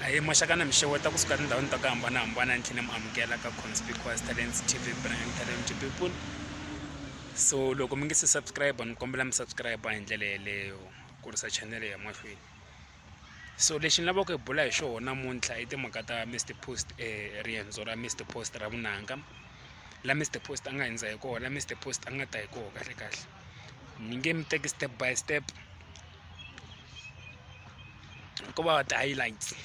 Ahee maxaka na mi xeweta kusuka etindhawini ta ku hambanahambana ni tlhe ni mi amukela ka conspicuous talents tv brand talent people so loko mi nge se subscribe ni kombela mi subscribe hi ndlela yeleyo kurisa channel ya mahlweni so lexi ni lavaka ku hi bula hi xona namuntlha i timhaka ta mr post um riendzo ra mr post ra vunanga la mr post a nga hundza hi kona la mr post a nga ta hi kona kahle kahle ni nge mi teki step by step ko va ti highlights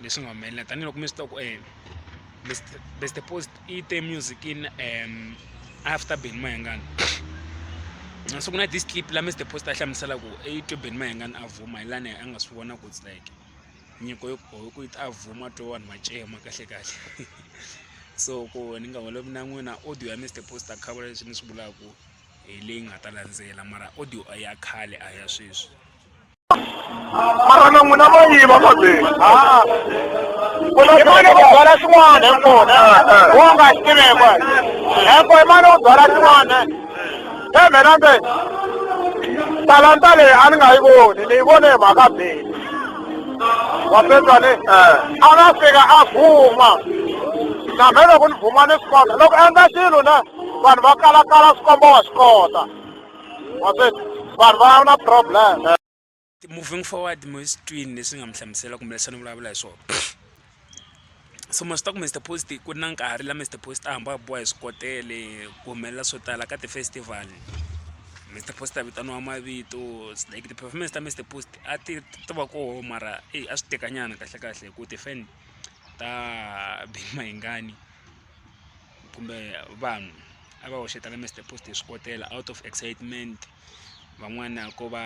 leswi nga humelela tanihiloko mi swi tiva ku eh, best post i te music in um after ben mayengani so ku na this clip la mr post a hlamusela ku i twe ben mayengani a vuma hi lani a nga swi vona ku it's like nyiko yo ku a vuma twe vanhu va cema kahle kahle so ku ni nga holovi na n'wina audio ya mr post a khavula leswi ni swi vulaku hi leyi nga ta landzela mara audio a ya khale a ya sweswi mara na n'wina va yiva mabeni imani ku byala swin'wana hi kona wo nga swi tivekwa heko imani ku byala swin'wana tshembela mbe talanta leyi a ni nga yi voni ni yi vone hi mhaka beni wapetsane a nga fika a vuma na mhe loko ni vuma ni swi kota loko endla xilo na vanhu va kalakala swikombo wa swi kota wa swi vanhu va na problem moving forward mo sitwini leswi nga mi hlamusela kumbe leswi ni vulavula hi swona so ma swi ta ku mr post ku ri na nkarhi la mr post a hamba a boha hi swikotele ku humelela swo tala ka ti-festival mr post a vitaniwa mavito like ti-performance ta mr post a ti ti va koho mara eyi a swi tekanyana kahlekahle hi ku ti-fan ta big mahingani kumbe vanhu a va hoxeta ka Mister Post hi swipotela out of excitement van'wana ko va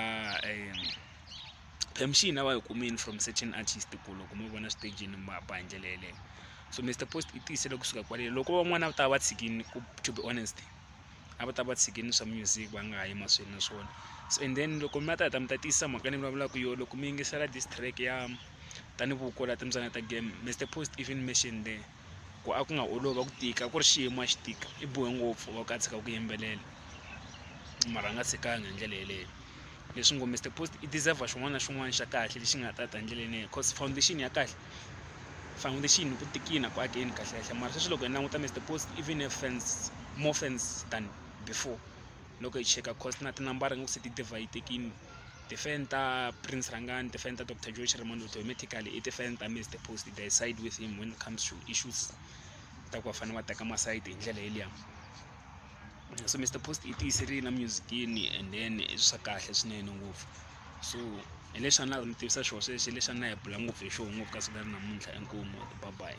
permission a va yi kumile from certain artist ku loko mo vona switejini ma ba hi ndlela yeleyo so Mister Post i tiyisele kusuka kwalelo loko van'wana a va ta va tshikini ku to be honest a va ta va tshikini swa music va nga ha yi mahlweni na swona so and then loko mi ta heta mi ta tiyisa mhaka ni vulavulaka yo loko mi yingisela this track ya tanihi vukola timbyana ta game Mister Post even mention there ku a ku nga olovi a ku tika a ku ri xiyimo a xi tika i bohe ngopfu va ku a tshika ku yimbelela mara a nga tshikanga hi ndlela yeleyo leswi ngo Mister Post i deserve xin'wana na xin'wana xa kahle lexi nga ta ta hi ndlela yeleyo coz foundation ya kahle foundation ku tikile ku akeni kahle kahle mara sweswi loko hi languta Mister Post even a fans more fans than before loko hi cheka cost na tinambara nga ku se ti divayisekile. Tifeni ta Prince Rhangani, tifeni ta Dr. Joe Chirimonde automatically i tifeni ta Mr. Post they side with him when it comes to issues ta ku va fanele va teka masayiti hi ndlela yeliya so Mr. Post i tiyiserile na musicini and then i swa kahle swinene ngopfu so hi leswi a ni lava mi tivisa xona sweswi hi leswi a ni la hi bula ngopfu hi xona ngopfu ka siku ra namuntlha inkomu bye bye.